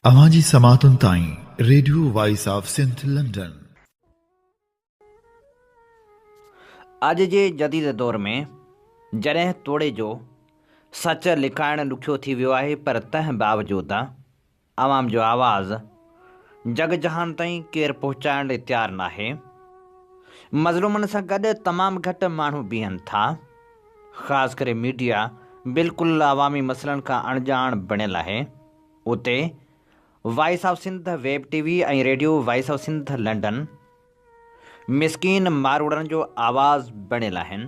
اوهان جي سماعتن تائين radio voice of Sindh London. اڄ جي جديد دور ۾ جڏهن توڙي جو سچ لڪائڻ ڏکيو ٿي ويو آهي پر تنهن باوجود عوام جو آواز جڳ جهان تائين ڪير پهچائڻ لئي تيار ناهي. مظلومن سان گڏ تمام گهٽ ماڻهو بيهن ٿا. خاص ڪري ميڊيا بلڪل عوامي مسئلن کان اڻڄاڻ بڻيل آهي. اتي voice of Sindh web TV ۽ radio voice of Sindh London, مسڪين ماروئڙن جو آواز بڻيل آهن.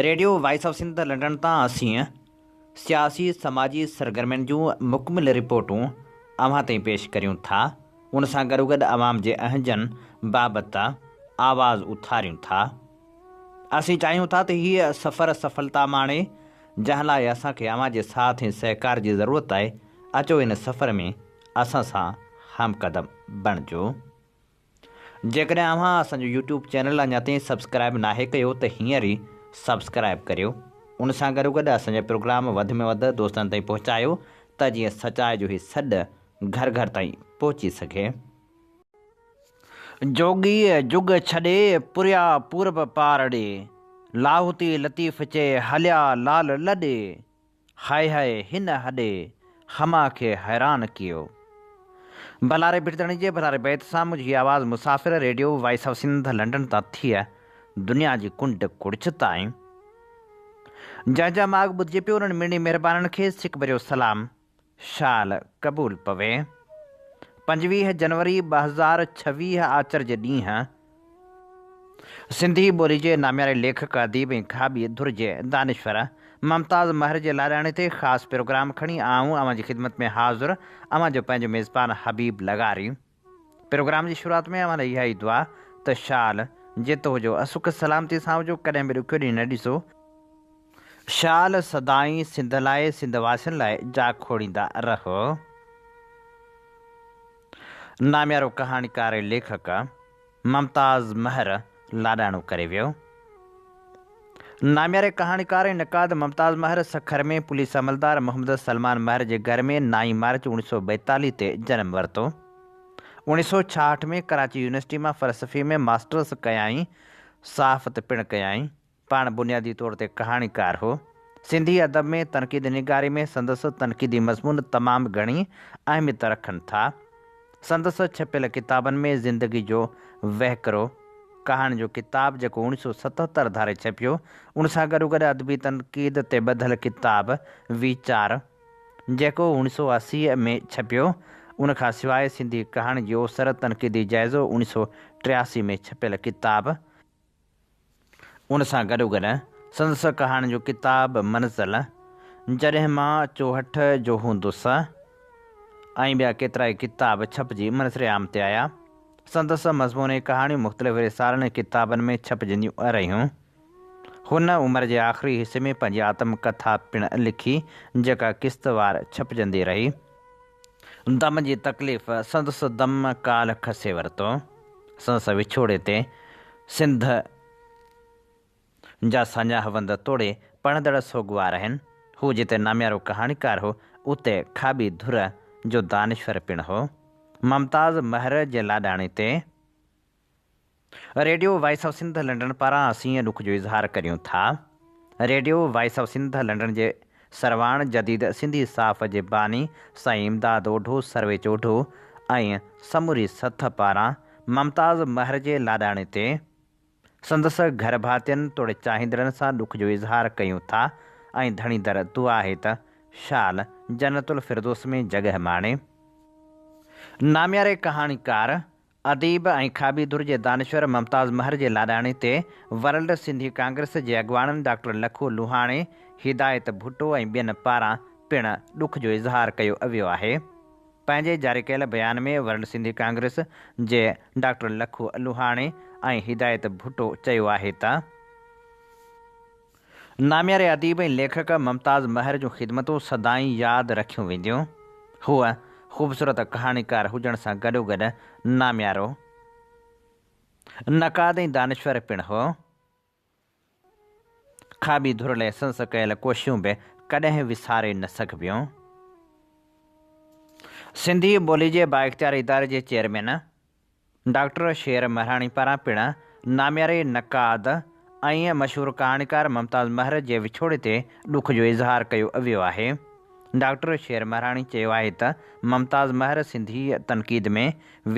Radio voice of Sindh London تان اسين سياسي سماجي سرگرمين جون مڪمل رپورٽون اوهان تائين پيش ڪريون ٿا ان سان گڏوگڏ عوام جي اهنجن بابت آواز اٿاريون ٿا اسين چاهيون ٿا ته هي سفر سڦلتا ماڻي جنهن لاء اسان کي اوهان جي ساٿ ۽ سهڪار جي ضرورت آهي اچو ان سفر ۾ اسان سان هم قدم بڻجو جيڪڏهن اوهان اسان جو يوٽيوب چينل اڃا تائين سبسڪرائب ناهي ڪيو ته هينئر ئي سبسڪرائب ڪريو ان سان گڏوگڏ اسان جا پروگرام وڌ ۾ وڌ دوستن تائين پهچايو ته جيئن سچائي جو هي سڏ گهر گهر تائين پهچي سگهي. جوڳي جڳ ڇڏي پريا پورب پار ڙي، لاهوتي لطيف چئي هليا لال لڏي. هاء هاء هن هڏي هما کي حيران ڪيو. بلاري بٺدڻي جي بلاري بيت سان منهنجي آواز مسافر radio voice of Sindh London تان ٿئي دنيا جي ڪنڊ ڪڙڇ تائين. جنهن جا ماڳ ٻڌجي پيو انهن ميڻي مهربانن کي سڪ ڀريو سلام شال قبول پوي. پنجويهه جنوري ٻه هزار ڇويهه آچر جي ڏينهن سنڌي ٻولي جي نامياري ليکڪ، اديب ۽ کاٻي ڌر جي دانشور ممتاز مهر جي لاڏاڻي تي خاص پروگرام کڻي آئون اوهان جي خدمت ۾ حاضر اوهان جو پنهنجو ميزبان حبيب لغاري. پروگرام جي شروعات ۾ اوهان لاء اها ئي دعا ته شال جت هجو اسک سلامتي سان هجو ڪڏهن به ڏکيو ڏينهن نه ڏسو. شال سدائين سنڌ لاء سنڌ واسين لاء جا کوڙيندا رهو. ناميارو ڪهاڻيڪار ۽ ليکڪ. ممتاز مهر لاڏاڻو ڪري ويو. نامياري ڪهاڻيڪار ۽ نقاد ممتاز مهر سکر ۾ پوليس عملدار محمد سلمان مهر جي گهر ۾ نائين مارچ اوڻيھ سؤ ٻائيتاليھ تي جنم ورتو. اوڻيھ سؤ ڇاهٺ ۾ ڪراچي يونيورسٽي مان فلسفي ۾ ماسٽرس ڪيائين. صحافت پڻ ڪيائين. پاڻ بنيادي طور تي ڪهاڻيڪار هو. سنڌي ادب ۾ تنقيد نگاري ۾ سندس تنقيدي مضمون تمام گهڻي اهميت رکن ٿا. سندس ڇپيل ڪتابن ۾ زندگي جو وهڪرو، ڪهاڻين جو ڪتاب جيڪو اوڻيھ سؤ ستهتر ڌاري ڇپيو، ان سان گڏوگڏ ادبي تنقيد تي ٻڌل ڪتاب ويچار، جيڪو اوڻيھ سؤ اسي ۾ ڇپيو، ان کان سواء سنڌي ڪهاڻين جي اوسر تنقيدي جائزو اوڻيھ سؤ ٽياسي ۾ ڇپيل ڪتاب، ان سان گڏوگڏ سندس ڪهاڻين جو ڪتاب منزل، جڏهن مان چوهٺ جو هوندس ۽ ٻيا ڪيترائي ڪتاب ڇپجي منظر عام تي آيا. سندس مضموني ڪهاڻيون مختلف رسالن ۽ ڪتابن ۾ ڇپجنديون رهيون. هن عمر جي آخري حصي ۾ پنهنجي آتم ڪٿا پڻ لکي، جيڪا قسطوار ڇپجندي رهي. دم جي تڪليف سندس دم ڪال کسي ورتو. سندس وڇوڙي تي سنڌ جا ساڃاهه وند توڙي پڙهندڙ سوڳوار آهن. هو جتي ناميارو ڪهاڻيڪار هو، اتي کاٻي ڌر جو دانشور پڻ هو. ممتاز مهر جي لاڏاڻي تي radio voice of Sindh London پاران اسين اين ڏک جو اظهار ڪريون ٿا radio voice of Sindh London جي سرواڻ جديد سنڌي صاف جي باني سائين امداد اوڍو سرويچ اوڍو ۽ سموري سٿ پاران ممتاز مهر جي لاڏاڻي تي سندس گهر ڀاتين توڙي چاهيندڙن سان ڏک جو اظهار ڪيون ٿا ۽ ڌڻي در دعا آهي ته شال جنت الفردوس ۾ جڳهه ماڻي. نامياري ڪهاڻيڪار اديب ۽ کاٻي ڌر جي دانشور ممتاز مهر جي لاڏاڻي تي ورلڊ سنڌي ڪانگريس جي اڳواڻن ڊاڪٽر لکو لوهاڻي، هدايت ڀٽو ۽ ٻين پاران پڻ ڏک جو اظهار ڪيو ويو آهي. پنهنجي جاري ڪيل بيان ۾ ورلڊ سنڌي ڪانگريس جي ڊاڪٽر لکو لوهاڻي ۽ هدايت ڀٽو چيو آهي ته، نامياري اديب ۽ ليکڪ ممتاز مهر جون خدمتون سدائين ياد رکيون وينديون. هو خوبصورت ڪهاڻيڪار هجڻ سان گڏوگڏ ناميارو نقاد ۽ دانشور پڻ هو. کاٻي ڌر لئه سنس ڪيل ڪوشيون به ڪڏهن وساري نه سگهبيون. سنڌي ٻولي جي بااختيار اداري جي چيئرمين، ڊاڪٽر شير مهراڻي پاران پڻ نامياري نقاد ۽ مشهور ڪهاڻيڪار ممتاز مهر جي وڇوڙي تي ڏک جو اظهار ڪيو ويو آهي. ڊاڪٽر شير مهراڻي چيو آهي ته ممتاز مهر سنڌي تنقيد ۾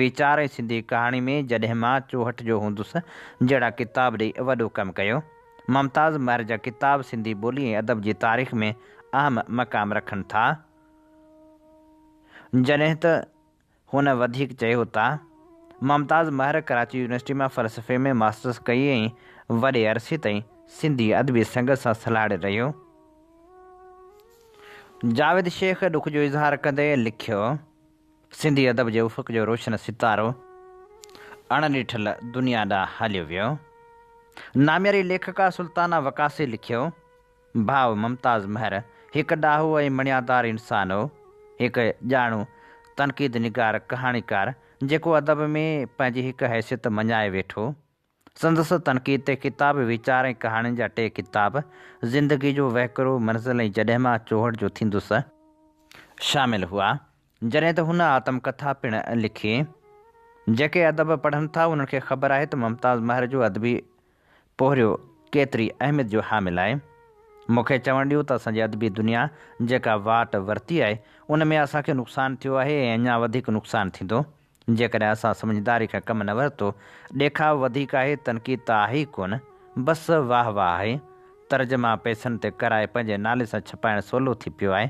ويچار ۽ سنڌي ڪهاڻي ۾ جڏهن مان چوهٺ جو هوندس جهڙا ڪتاب ڏئي وڏو ڪم ڪيو. ممتاز مهر جا ڪتاب سنڌي ٻولي ۽ ادب جي تاريخ ۾ اهم مقام رکن ٿا. جڏهن ته هن وڌيڪ چيو ته ممتاز مهر ڪراچي يونيورسٽي مان فلسفي ۾ ماسٽرس ڪئي ۽ وڏي عرصي تائين سنڌي ادبي سنگت سان سلهاڙي رهيو. جاويد شيخ ڏک جو اظهار ڪندي لکيو، سنڌي ادب جي افق جو روشن ستارو اڻ ڏٺل دنيا ڏانهن هليو ويو. نامياري ليکڪا سلطانه وقاصي لکيو ڀاء ممتاز مهر هڪ ڏاهو ۽ مڻيادار انسان هو. هڪ ڄاڻو تنقيد نگار ڪهاڻيڪار جيڪو ادب ۾ پنهنجي هڪ حيثيت مڃائي ويٺو. سندس تنقيد تي ڪتاب ويچار ۽ ڪهاڻين جا ٽي ڪتاب زندگي جو وهڪرو، منزل ۽ جڏهن مان چوهڙ جو ٿيندس، شامل هئا. جڏهن ته هن آتم ڪٿا پڻ لکي. جيڪي ادب پڙهن ٿا انهن کي خبر آهي ته ممتاز مهر جو ادبي پورهيو ڪيتري اهميت جو حامل آهي. مون کي چوڻ ڏيو ته اسان جي ادبي دنيا جيڪا واٽ ورتي آهي ان ۾ اسان کي نقصان ٿيو آهي ۽ اڃا وڌيڪ نقصان ٿيندو. جيڪڏهن اسان سمجهداري کان ڪم نه ورتو، ڏيکاء وڌيڪ آهي، تنقيد ته آهي ئي ڪونه، بس واهه واهه آهي. ترجما پئسن تي ڪرائي پنهنجي نالي سان ڇپائڻ سولو ٿي پيو آهي.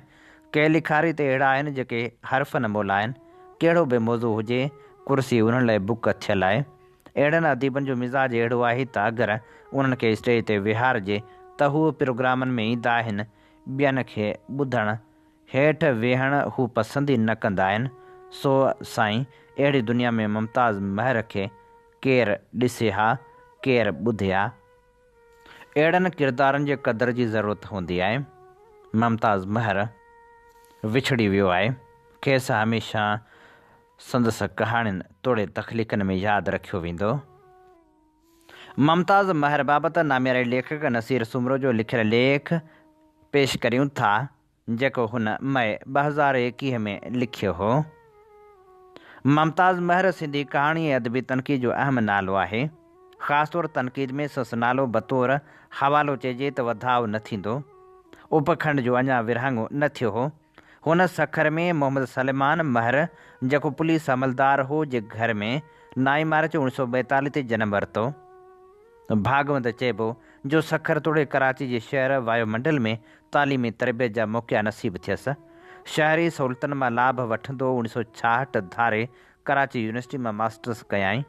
ڪي لکاري ته اهڙا آهن جيڪي حرفن مول آهن. ڪهڙو به موضوع هجي، ڪرسي انهن لاء بڪ ٿيل آهي. اهڙن اديبن جو مزاج اهڙو آهي ته اگر انهن کي اسٽيج تي ويهارجي ته هو پروگرامن ۾ ايندا آهن، ٻين کي ٻڌڻ هيٺ ويهڻ هو پسند ئي نه ڪندا آهن، سو سائين اهڙي دنيا ۾ ممتاز مهر کي ڪير ڏسي ها، ڪير ٻڌي ها. اهڙن ڪردارن جي قدر جي ضرورت هوندي آهي. ممتاز مهر وڇڙي ويو آهي، کيس هميشه سندس ڪهاڻين توڙي تخليقن ۾ ياد رکيو ويندو. ممتاز مهر بابت نامياري ليکڪ نصير سومرو جو لکيل ليک پيش ڪريون ٿا. جيڪو هن مئي ٻه هزار ايڪيهه ۾ لکيو هو. ممتاز مهر سنڌي ڪهاڻي ۽ ادبي تنقيد جو اهم نالو آهي. خاص طور تنقيد ۾ سس نالو بطور حوالو چئجي ته وڌاء نه ٿيندو. اپکنڊ جو اڃا ورهاڱو نه ٿيو هو. هن سکر ۾ محمد سليمان مهر جيڪو پوليس عملدار هو جي گهر ۾ نائين مارچ اوڻيهه سؤ ٻائيتاليهه تي جنم ورتو. ڀاڳوند چئبو جو سکر توڙي ڪراچي جي شهر وايو منڊل ۾ تعليمي تربيت جا موقعا نصيب ٿيس. شهري سهولتن مان لاڀ وٺندو اوڻي سو ڇاهٺ ڌاري ڪراچي يونيورسٽي مان ماسٽرس ڪيائين.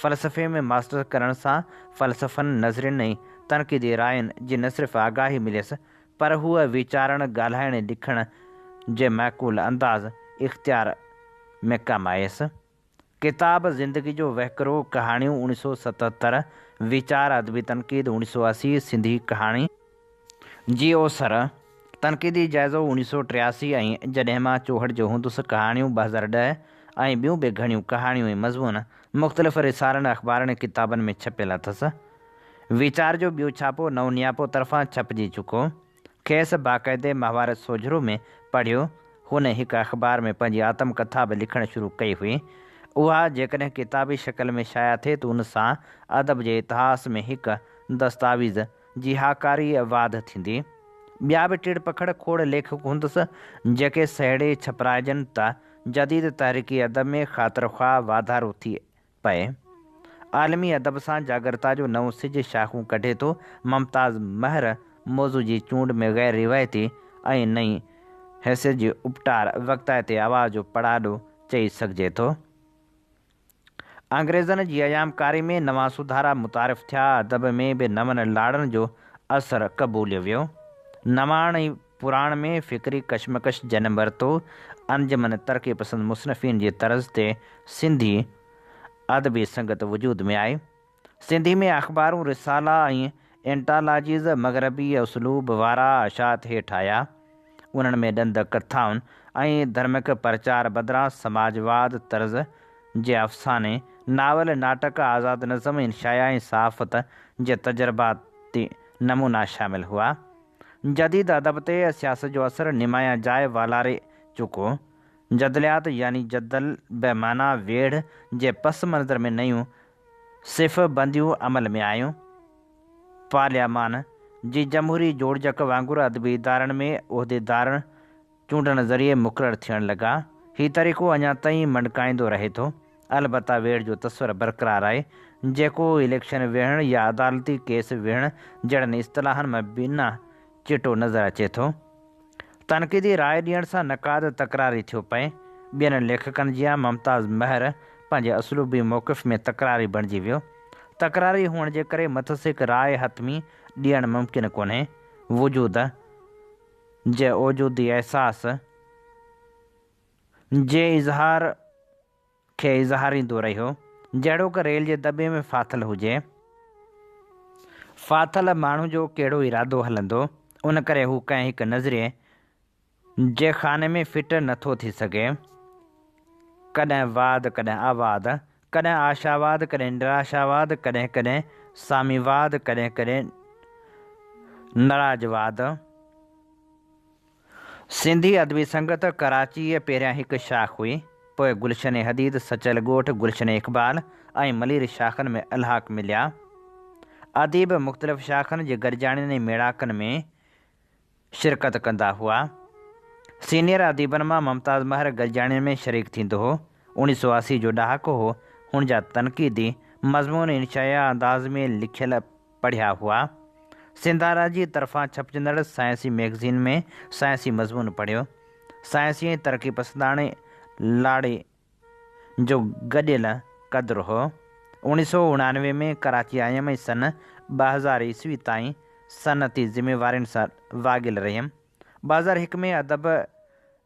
فلسفي ۾ ماسٽرس ڪرڻ سان فلسفن، نظرين ۽ تنقيدي راين جي نه صرف آگاهي مليس پر هوء ويچارڻ، ڳالهائڻ ۽ لکڻ جي معقول انداز اختيار ۾ ڪم آيس. ڪتاب زندگي جو وهڪرو، ڪهاڻيون، اوڻيھ سؤ ستهتر، ويچار ادبي تنقيد، اوڻيھ سؤ اسي، سنڌي ڪهاڻي، جي اوسر، تنقيدي جائزو، اوڻيھ سؤ ٽياسي ۽ جڏهن مان چوهڙ جو هوندس، ڪهاڻيون، ٻه هزار ڏهه ۽ ٻيون به گهڻيون ڪهاڻيون ۽ مضمون مختلف رسالن، اخبارن ۽ ڪتابن ۾ ڇپيل اٿس. ويچار جو ٻيو ڇاپو نئون نياپو طرفان ڇپجي چڪو. کيس باقاعدي مهاڀارت سوجهرو ۾ پڙهيو. هن هڪ اخبار ۾ پنهنجي آتم ڪٿا به لکڻ شروع ڪئي هئي. اها جيڪڏهن ڪتابي شڪل ۾ شايع ٿئي ته ان سان ادب جي اتهاس ۾ هڪ دستاويز جي هاڪاري واڌ ٿيندي. ٻيا به ٽيڙ پکڙ کوڙ ليکڪ هوندس جيڪي سهيڙي ڇپرائجن ته جديد تحريڪي ادب ۾ خاطرخواهه واڌارو ٿئي پئي. عالمي ادب سان جاڳرتا جو نئون سج شاخون ڪڍي ٿو. ممتاز مهر موضوع جي چونڊ ۾ غير روايتي ۽ نئين حيثيت جي اپٽار وقتائتي آواز جو پڙاڏو چئي سگهجي ٿو. انگريزن جي ايام ڪاري ۾ نوان سڌارا متعارف ٿيا، ادب ۾ به نون لاڙن جو اثر قبوليو ويو. نواڻ ۽ پراڻ ۾ فڪري ڪشمڪش جنم ورتو، انجمن ترقي پسند مصنفين جي طرز تي سنڌي ادبي سنگت وجود ۾ آئي. سنڌي ۾ اخبارون، رسالا ۽ انٽالاجيز مغربي اسلوب وارا اشاعت هيٺ آيا. انهن ۾ ڏند ڪٿائن ۽ ڌرمڪ پرچار بدران سماجواد طرز جي افساني، ناول، ناٽڪ، آزاد نظم ۽ شايع ۽ صحافت جي تجرباتي نمونا شامل هئا. جديد ادب تي سياست جو اثر نمايان جاء والاري چڪو. جدليات يعني جدل بي معنيٰ ويڙهه جي پس منظر ۾ نيون صف بنديون عمل ۾ آيون. پارليامان جي جمهوري جوڙجڪ وانگر ادبي ادارن ۾ عهديدارن چونڊڻ ذريعي مقرر ٿيڻ لڳا. هي طريقو اڃا تائين مڏڪائيندو رهي ٿو. البته ويڙهه جو تصور برقرار آهي، جيڪو اليڪشن ويهڻ يا عدالتي ڪيس ويهڻ جهڙن اصطلاحن مان بنا چٽو نظر اچي ٿو. تنقيدي راء ڏيڻ سان نقاد تڪراري ٿيو پئي. ٻين ليکڪن جيان ممتاز مهر پنهنجي اسلوبي موقف ۾ تڪراري بڻجي ويو. تڪراري هئڻ جي ڪري مٿس هڪ راء حتمي ڏيڻ ممڪن ڪونهي. وجود. جي وجودي احساس جي اظهار کي اظهاريندو رهيو، جهڙوڪ ريل جي دٻي ۾ ڦاٿل هجي. ڦاٿل ماڻهو جو ڪهڙو ارادو هلندو، ان ڪري هو ڪنهن هڪ نظريي جي خاني ۾ فٽ نه ٿو ٿي سگهي. ڪڏهن واد ڪڏهن آواد ڪڏهن آشاواد، ڪڏهن نراشاواد، ڪڏهن ڪڏهن ساميواد، ڪڏهن ڪڏهن نراجواد. سنڌي ادبي سنگت ڪراچيء پهريان هڪ شاخ هئي، پوء گلشن حديد، سچل ڳوٺ، گلشن اقبال ۽ ملير شاخن ۾ الحاق مليا. اديب مختلف شاخن جي گڏجاڻين ۽ ميڙاڪن ۾. شرڪت ڪندا هئا. سينيئر اديبن مان ممتاز مهر گڏجاڻين ۾ شريڪ ٿيندو هو. اڻيهه سؤ اسي جو ڏهاڪو هو، هن جا تنقيدي مضمون انشائيه انداز ۾ لکيل پڙهيا هئا. سنڌارا جي طرفان ڇپجندڙ سائنسي ميگزين ۾ سائنسي مضمون پڙهيو. سائنسي ۽ ترقي پسنداڻي لاڙي جو گڏيل قدر هو. اوڻي سو اڻانوي ۾ ڪراچي آيم ۽ سن ٻه هزار عيسوي تائين صنعتي ذميوارين سان واڳيل رهيم. ٻه هزار هڪ ۾ ادب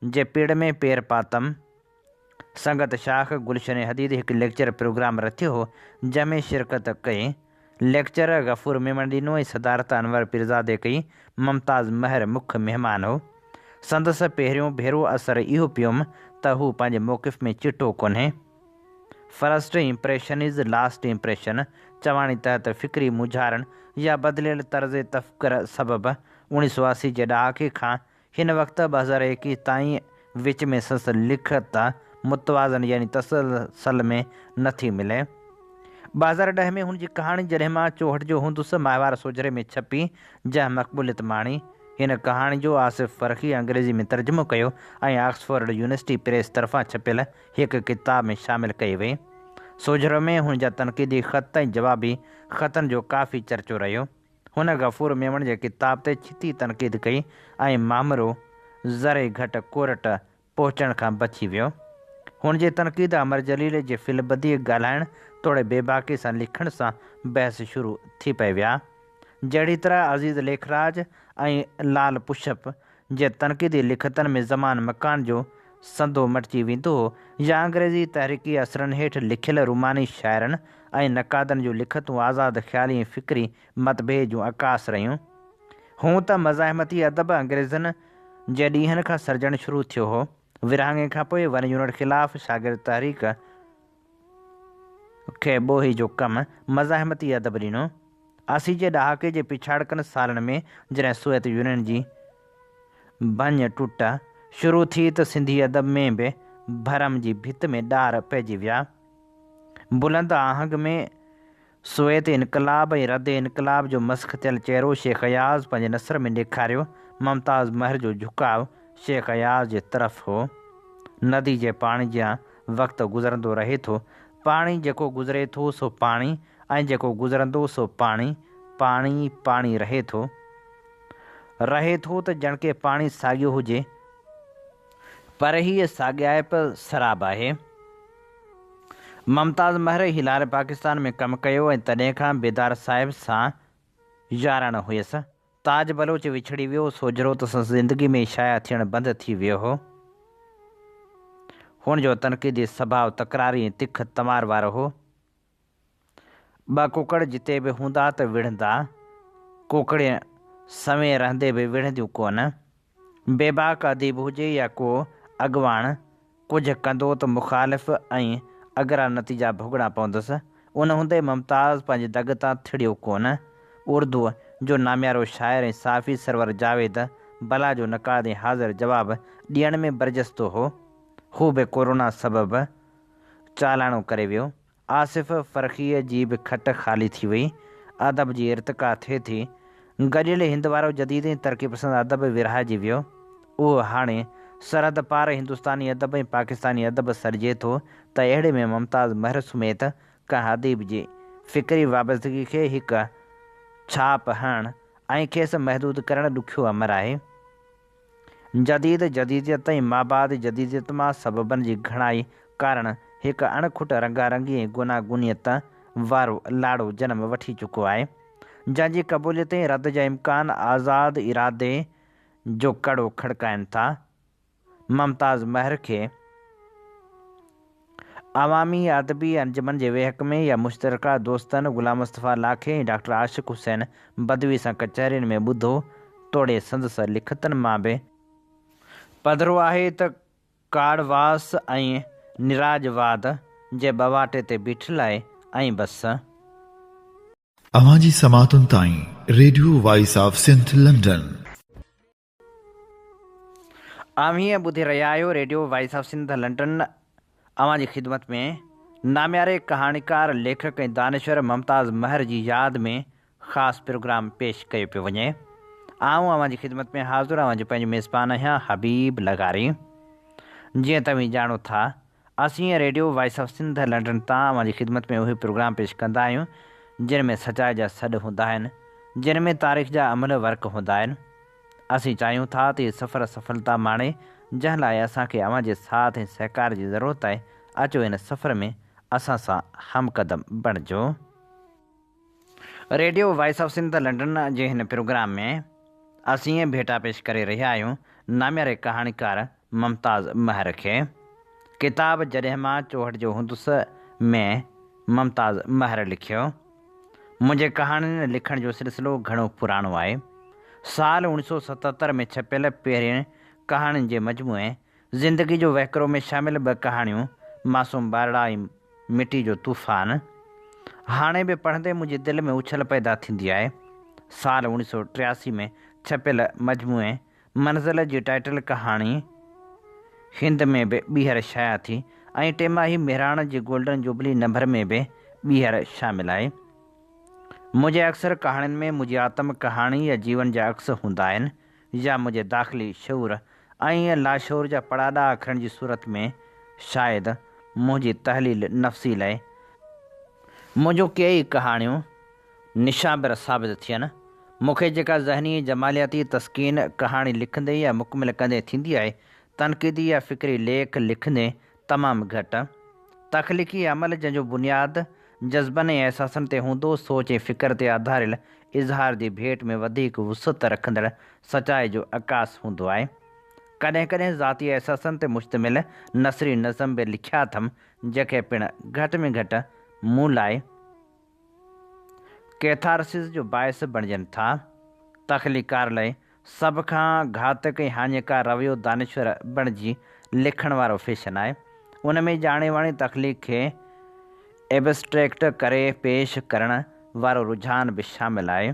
جي پيڙهه ۾ پير پاتم. سنگت شاخ گلشن حديد هڪ ليڪچر پروگرام رٿيو هو، جنهن ۾ شرڪت ڪئي. ليڪچر غفور ميمڻ ڏنو ۽ صدارت انور پيرزادي ڪئي. ممتاز مهر مک مهمان هو. سندس پهريون ڀيرو اثر اهو پيوم ته هو پنهنجي موقف ۾ چٽو ڪونهي. First impression is last impression چواڻي تحت فڪري مونجهارڻ يا بدليل طرز تفڪر سبب اوڻيهه سؤ اسي جي ڏهاڪي کان هن وقت ٻه هزار ايڪيهه تائين وچ ۾ سنس لکت متوازن يعني تسلسل ۾ نه ٿي ملي. ٻه هزار ڏهه ۾ هن جي ڪهاڻي جڏهن مان چوهٺ جو هوندس ماهوار سوجهري ۾ ڇپي، جنهن مقبوليت ماڻي. هن ڪهاڻي جو آصف فرخيء انگريزي ۾ ترجمو ڪيو ۽ آڪسفورڊ يونيورسٽي پريس طرفان ڇپيل هڪ ڪتاب ۾ شامل ڪئي وئي. سوجهرو ۾ هن جا تنقيدي خط ۽ جوابي خطن جو ڪافي چرچو رهيو. هن غفور ميمڻ جي ڪتاب تي ڇتي تنقيد ڪئي ۽ مامرو ذري گهٽ ڪورٽ پهچڻ کان بچي ويو. هن جي تنقيد امر جليل جي في البديع ڳالهائڻ توڙي بيباڪي سان لکڻ سان بحث شروع ٿي پئي ويا. جهڙي طرح عزيز ليکراج ۽ لعل پشپ جي تنقيدي لکتن ۾ زمان مڪان جو سندو مٽجي ويندو هو يا انگريزي تحريڪي اثرن هيٺ لکيل روماني شاعرن ۽ نقادن جون لکتون آزاد خيالي ۽ فڪري متڀيد جون عڪاس رهيون. هونء ته مزاحمتي ادب انگريزن جي ڏينهن کان سرجڻ شروع ٿيو هو. ورهاڱي کانپوء ون يونٽ خلاف شاگرد تحريڪ، کي ٻوهي جو ڪم مزاحمتي ادب ڏنو. اسي جي ڏهاڪي جي پڇاڙڪن سالن ۾ جڏهن سوويت يونين جي ڀڃ ٽٽ شروع ٿي ته سنڌي ادب ۾ به ڀرم جي ڀت ۾ ڏار پئجي ويا. بلند آهنگ ۾ سوويت انقلاب ۽ رد انقلاب جو مسخ ٿيل چهرو شيخ اياز پنهنجي نثر ۾ ڏيکاريو. ممتاز مهر جو جهڪاء شيخ اياز جي طرف هو. ندي جي پاڻي جيان وقت گذرندو رهي ٿو. پاڻي جيڪو گذري ٿو سو پاڻي ۽ جيڪو گذرندو سو پاڻي، پاڻي، پاڻي رهي ٿو. رهي ٿو ته ڄڻڪه پاڻي ساڳيو هجي. پر هيء ساڳيائپ سراب آهي. ممتاز مهر هلال پاڪستان ۾ ڪم ڪيو ۽ تڏهن کان بيدار صاحب سان ياراڻو هيس. تاج بلوچ وڇڙي ويو، سوجهرو ته سندس زندگي ۾ شايع ٿيڻ بند ٿي ويو هو. هن جو تنقيدي سڀاء تڪراري ۽ تک تمار وارو هو. ٻه ڪڪڙ جتي به هوندا ته وڙهندا، ڪڪڙيون سوين رهندي به وڙهنديون ڪونه. بيباڪ اديب هجي يا ڪو اڳواڻ ڪجهه ڪندو ته مخالف ۽ اگرا نتيجا ڀوڳڻا پوندس. ان هوندي ممتاز پنهنجي دڳ تان ٿڙيو ڪونه. اردوء جو ناميارو شاعر ۽ صحافي سرور جاويد بلا جو نقاد ۽ حاضر جواب ڏيڻ ۾ برجستو هو. هو به ڪورونا سبب چالاڻو ڪري ويو. آصف فرخيء جي به کٽ خالي ٿي وئي. ادب جي ارتقا ٿئي ٿي. گڏيل هند وارو جديد ۽ ترقي پسند ادب ورهائجي ويو. اهو هاڻي سرحد پار هندستاني ادب ۽ پاڪستاني ادب سڏجي ٿو ته اهڙي ۾ ممتاز مهر سميت ڪنهن اديب جي فڪري وابستگي کي هڪ ڇاپ هڻڻ ۽ کيس محدود ڪرڻ ڏکيو امر آهي. جديد جديديت ۽ مابعد جديديت مان سببن جي گهڻائي ڪارڻ هڪ اڻ کٽ رنگا رنگي ۽ گوناگونيت وارو لاڙو جنم وٺي چڪو آهي، جنهن جي قبوليت ۽ رد جا امڪان آزاد ارادي جو ڪڙو کڙڪائين ٿا. ممتاز مهر کي. عوامي ادبي انجمن جي ويهڪ ۾ يا مشترڪه دوستن غلام مصطفيٰ لاکي ۽ ڊاڪٽر عاشق حسين بدوي سان ڪچهرين ۾ ٻڌو، توڙي سندس لکتن مان به. پڌرو آهي ته ڪاڙهواس ۽ نراج واد جي ٻواٽي تي بيٺل آهي ۽ بس. اوهان جي سماعتن تائين radio voice of Sindh London. اوهين ٻڌي رهيا آهيو radio voice of Sindh London اوهان جي خدمت ۾ نامياري ڪهاڻيڪار ليکڪ ۽ دانشور ممتاز مهر جي ياد ۾ خاص پروگرام پيش ڪيو پيو وڃي آئون اوهان جي خدمت ۾ حاضر اوهان جو پنهنجو ميزبان آهيان حبيب لغاري جيئن توهين ڄاڻو ٿا اسين radio voice of Sindh London تان اوهان جي خدمت ۾ اهي پروگرام پيش ڪندا آهيون جن ۾ سچائي جا سڏ هوندا آهن جن ۾ تاريخ جا املهه ورق هوندا آهن اسين چاهيون ٿا ته هي سفر سڦلتا ماڻي جنهن لاء اسان کي اوهان جي ساٿ ۽ سهڪار جي ضرورت آهي اچو هن سفر ۾ اسان سان همقدم بڻجو. Radio voice of Sindh London جي هن پروگرام ۾ اسين اهي ڀيٽا پيش ڪري رهيا آهيون نامياري ڪهاڻيڪار ممتاز مهر کي. ڪتاب جڏهن مان چوهٺ جو هوندس ۾ ممتاز مهر لکيو. منهنجي ڪهاڻين لکڻ جو سلسلو گهڻو پراڻو آهي. سال اوڻيھ سؤ ستهتر ۾ ڇپيل پهرين ڪهاڻين جي مجموعي زندگي جو وهڪرو ۾ شامل ٻه ڪهاڻيون معصوم ٻارڙا ۽ مٽي جو طوفان هاڻي به پڙهندي منهنجي دل ۾ اڇل پيدا ٿيندي آهي. سال اوڻيهه سؤ ٽياسي ۾ ڇپيل مجموعي منزل جي ٽائيٽل ڪهاڻي هند ۾ به ٻيهر شايع ٿي ۽ ٽيماهي مهراڻ جي گولڊن جوبلي نمبر ۾ به ٻيهر شامل آهي. منهنجي اڪثر ڪهاڻين ۾ منهنجي آتم ڪهاڻي يا جيون جا عڪس هوندا آهن. يا منهنجي داخلي شعور ۽ لاشعور جا پڙاڏا کڻڻ جي صورت ۾ شايد منهنجي تحليل نفسي لئه منهنجون ڪيئي ڪهاڻيون نشابر ثابت ٿين. مون کي جيڪا ذهني جمالياتي تسڪين ڪهاڻي لکندي يا مڪمل ڪندي ٿيندي آهي، تنقيدي يا فڪري ليک لکندي تمام گهٽ. تخليقي عمل جنهن جو بنياد جذبن ۽ احساسن تي هوندو، سوچ ۽ فڪر تي آڌاريل اظهار جي ڀيٽ ۾ وڌيڪ وسعت رکندڙ سچائي جو عڪاس هوندو آهي. ڪڏهن ڪڏهن ذاتي احساسن تي مشتمل نثري نظم به لکيا اٿم، جيڪي پڻ گهٽ ۾ گهٽ مون لاء، ڪيٿارسز جو باعث بڻجن ٿا. تخليقڪار لاء سڀ کان گهاتڪ ۽ هاڃيڪار رويو دانشور بڻجي لکڻ وارو فيشن آهي. ان ۾ ڄاڻي واڻي تخليق کي ائبسٽريڪٽ ڪري پيش ڪرڻ وارو رجحان به شامل آهي.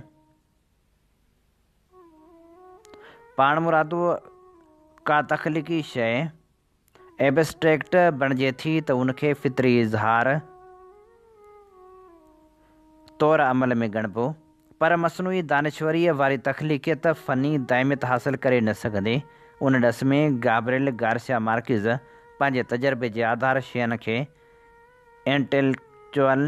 پاڻمرادو ڪا تخليقي شيء ايبسٽريڪٽ بڻجي ٿي ته ان کي فطري اظهار طور عمل ۾ ڳڻبو، پر مصنوعي دانشوريء واري تخليقيت فني دائميت حاصل ڪري نه سگهندي. ان ڏس ۾ گابريل گارسيا مارڪيز پنهنجي تجربي جي آڌار شين کي انٽيلڪچوئل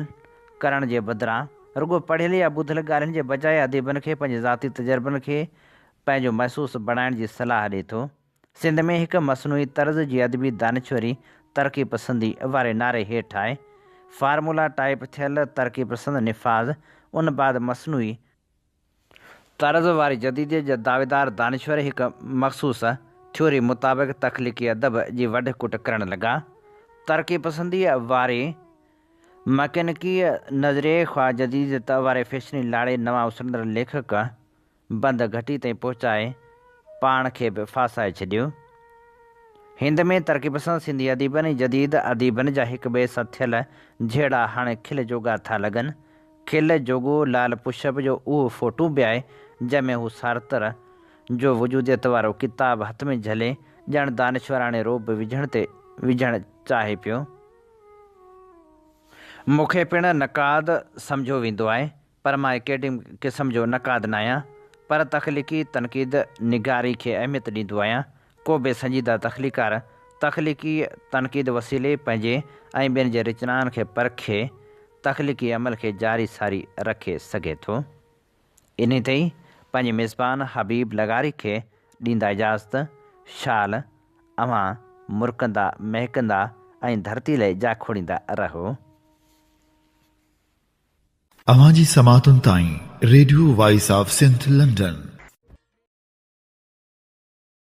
ڪرڻ جي بدران رڳو پڙهيل يا ٻڌل ڳالهين جي بجاء اديبن کي پنهنجي ذاتي تجربن کي پنهنجو محسوس بڻائڻ جي صلاح ڏئي ٿو. سنڌ ۾ هڪ مصنوعي طرز جي ادبي دانشوري ترقي پسندي واري نعري هيٺ آهي. فارمولا ٽائيپ ٿيل ترقي پسند نفاذ ان بعد مصنوعي. طرز واري جديديت جا دعويدار دانشور هڪ مخصوص ٿيوري مطابق تخليقي ادب جي وڍ ڪٽ ڪرڻ لڳا. ترقي پسنديء واري مڪينڪيء نظريي خواه جديديت واري فيشني لاڙي نوان اسرندڙ ليکڪ. بند گهٽي تائين پهچائي پاڻ کي به ڦاسائي ڇڏيو. هند ۾ ترقي پسند سنڌي اديبن ۽ جديد اديبن جا هڪ ٻئي سان ٿيل جهيڙا هاڻي کل جوڳا ٿا لڳن. کل جوڳو لال پشپ جو اهو فوٽو به آهي، جنهن ۾ هو سارتر جو وجوديت وارو ڪتاب هٿ ۾ جهلي ڄڻ دانشوراڻي رعب وجهڻ تي وجهڻ چاهي پيو. مون کي پڻ نقاد سمجهيو ويندو آهي، پر مان اڪيڊمڪ قسم جو نقاد ناهيان پر تخليقي تنقيد نگاري کي اهميت ڏيندو آهيان. ڪو به سنجيده تخليقڪار تخليقي تنقيد وسيلي پنهنجي ۽ ٻين جي رچنائن کي پرکي تخليقي عمل کي جاري ساري رکي سگهي ٿو. انهي تي ئي پنهنجي ميزبان حبيب لغاري کي ڏيندا اجازت، شال اوهان مرڪندا مهڪندا ۽ ڌرتي لئي جا کوڙيندا رهو. اوهان جي سماعتن تائين radio voice of Sindh London.